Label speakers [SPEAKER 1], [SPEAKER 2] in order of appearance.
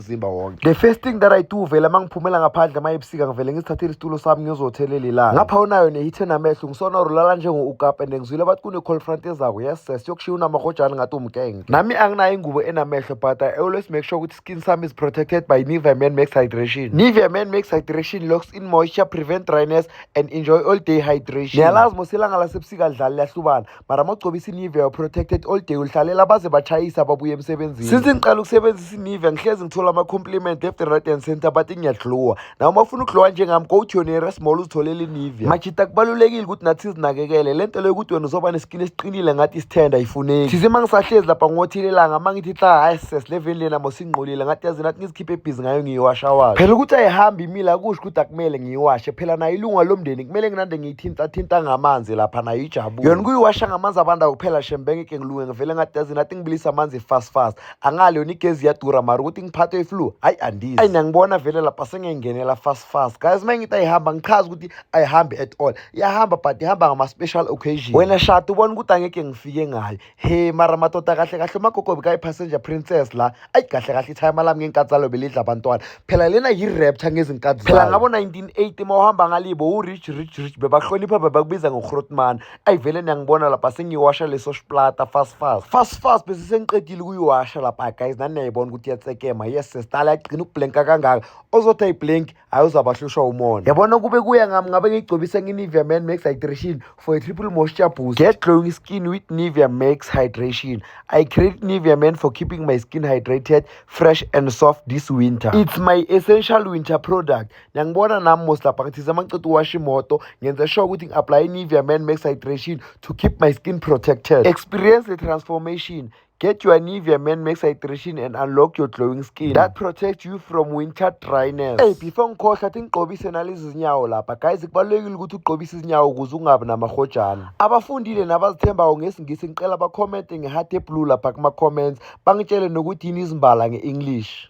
[SPEAKER 1] umzimba wonke the first thing that i do vele uma ngiphumela ngaphandle uma ebusika ngivele ngizithathele isitulo sami ngiyozothelela ilanga ngapha unayo nehithe namehlo ngisona ulala njengo-ukap and ngizwile bathi kune-call front ezako yes ses yokushiya unamahotshana ngathi umgenge nami anginayo ingubo enamehlo but i always make sure ukuthi skin sami is protected by nivea man makes hydration nivea man makes hydration locks in moisture prevent dryness and enjoy all day hydration niyalazi mosilanga lasebusika lidlali liyahlubana mara mawugcobisa inivea you're protected all day ulihlalela baze bachayisa babuye emsebenzini since ngiqala ukusebenzisa inivea ngihlezi ngithola ama-compliment left and right and center bathi ngiyadluwa nawe uma ufuna ukudluwa njengami go to yonera small uzitholele inivea majita kubalulekile ukuthi nathi sizinakekele le nto leyo ukuthi wena uzoba nesikin esiqinile ngathi isithenda ayifuneki thize uma ngisahlezi lapha ngothelelanga uma ngithi hla hayi sesileveni lena mosingqolile ngathi yazi nathi ngizikhiphe ebhizi ngayo ngiyiwashawayo phela ukuthi ayihambi imile akusho ukuthi akumele ngiyiwashe phela nayo ilunga lomndeni kumele nginande thinta thinta ngamanzi lapha nayo ijabule yona kuyiwasha ngamanzi abanda kuphela shembenge ke ngilunge ngivele ngadazi nathi ngibilisa amanzi fast fast angale yona igezi iyadura mara ukuthi ngiphathwe iflu hayi andizi ayi nangibona vele lapha sengengenela fast fast guys uma ngithi ayihamba ngichaza ukuthi ayihambi at all iyahamba but ihamba ngama-special occasion wena shati ubona ukuthi angeke ngifike ngayo he mara madoda kahle kahle umagogo bekayi-passenger princess la ayi kahle kahle ithayima lami ngenkathi zalo belidla abantwana phela lena yi-rapture ngezinkathi phela ngabo-1980 uma uhamba ngalibo u-rich rich rich bebahlonipha bebakubiza ngohrotman ayi vele niyangibona lapha sengiyiwasha leso splata fast fast fast fast besisengiqedile ukuyiwasha lapha guys nani niyayibona ukuthi iyatsekema yes sesitala yagcina ukublenka kangaka ozothi ayiblenki hayi uzabahlushwa umona yabona kube kuya ngami ngabe ngiyigcobisa nge-nivea man max hydration for a triple moisture boost get glowing skin with nivea max hydration i create nivea man for keeping my skin hydrated fresh and soft this winter it's my essential winter product nangibona nami mos lapha ngithize amaceda uwasha imoto ngenze sure ukuthi ngi-aplaye i-nivea man max hydration to keep my skin protected experience the transformation Get your Nivea Man Max Hydration and unlock your glowing skin that protects you from winter dryness. Hey, before ngikhohlwa athi ngigqobise nalezi zinyawo lapha. Guys, kubalulekile ukuthi ugqobise izinyawo ukuze ungabi namahojana. Abafundile nabazithembayo ngesiNgisi ngicela bakhomente ngeheart eblue lapha kuma-comments. Bangitshele nokuthi yini izimbala nge-English.